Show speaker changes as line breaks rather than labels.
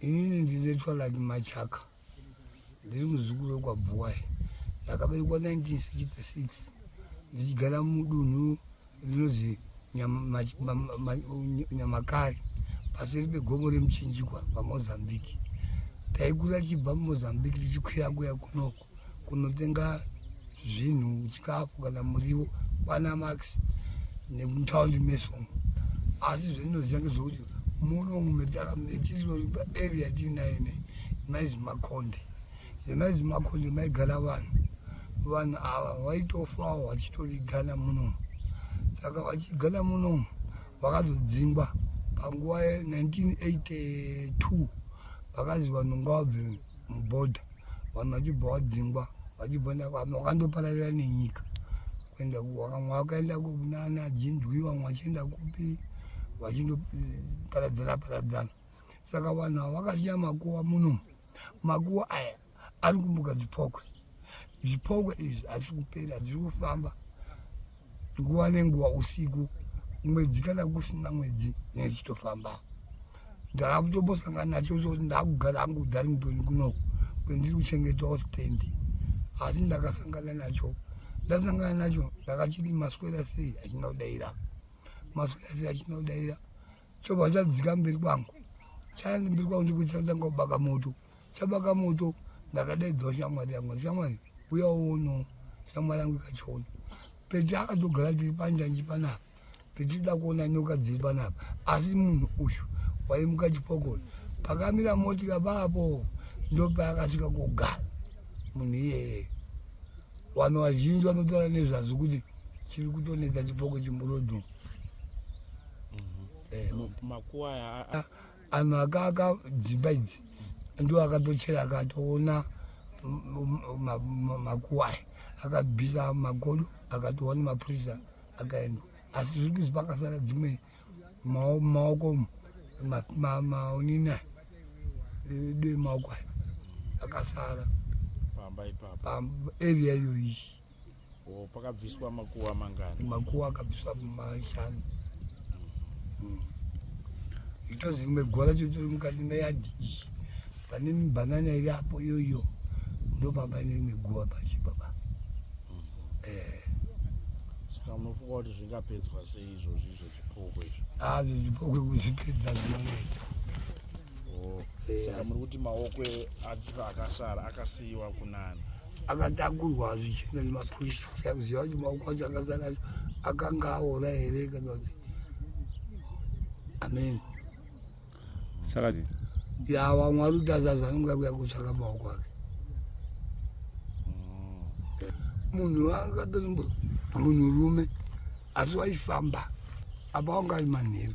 inini ndinoitwa like machaka ndiri muzukuru wekwabhuwai ndakaberekwa 1966 ndichigara mudunhu rinozi nyamakari paseri pegomo remuchinjikwa pamozambique taikura tichibva mumozambique tichikwira kuya kunoko kunotenga zvinhu chikafu kana muriwo kwana max nemutaundi mesomo asi zvendinoziva ngezvekuti muno mumetakametiiba area tiinaine maizi makonde nemaizi makonde maigara vanhu vanhu ava vaitofawo vachitorigana munomu saka vachigana munomu vakazodzingwa panguva ye 1982 vakazi vanhu ngavabve mubhodha vanhu vachibva vadzingwa vachibva vakandopararira nenyika kuenda vamwe vakaenda kunana jinzwi vamwe vachienda kupi vachindoparadzana paradzana saka vanhu ava vakasiya makuva munomu makuva aya ari kumuka zvipokwe zvipokwe izvi hazvi kupera zviri kufamba nguva nenguva usiku mwedzi kana kusina mwedzi nezitofamba ndava kutombosangana nacho zvokuti ndakugara hangu darlington kunoku kwendiri kuchengetawo stendi asi ndakasangana nacho ndasangana nacho ndakachiti maswera sei achina kudaira maswera sei achina kudaira chobva chadzika mberi kwangu chaenda mberi kwangu ndikuti chatanga kubaka moto chabaka moto ndakadaidzwa shamwari yangu shamwari uya uono shamwari yangu ikachiona peti akatogara tiri panjanji panapa peti toda kuona nyoka dziri panapa asi munhu uyu waimuka chipokoni pakamira motika paapo ndopaakasvika kugara munhu iyeye vanhu vazhinji vanotaura nezvazvo kuti chiri kutonetsa chipoko chimburodhuu
mhm. makuwa aya anhu akaaka
dzimba idzi ndiwo akatochera akatoona makuwa aya akabvisa magodo akatoona mapurisa akaenda asi zviri kuzi pakasara dzimwe maoko maonini aya edu emaoko aya akasara pamba ipapa area iyoyi Oh,
pakabviswa makuva mangani? Makuva akabviswa
mashanu. Mm. Itozi rimwe gora chotori mukati meyadhi iyi. Pane banana iri apo iyoyo ndopamba ine rimwe guva pashi baba. Mm. Eh.
Saka munofunga kuti zvingapedzwa sei izvozvi izvo zvipoko izvo? Ah, zvipoko
kuzvipedza zvinonetsa. Oh,
saka muri kuti maoko acho akasara akasiyiwa kunani akatakurwa
zvichina nemapurisa kuziva kuti maoko acho akasara acho akanga aora here kana kuti amen
saka ya
vamwe ari kuti azazi anonga kuya kutsvaka maoko ake mm. munhu akatori munhurume asi waifamba apa wanga ari manheru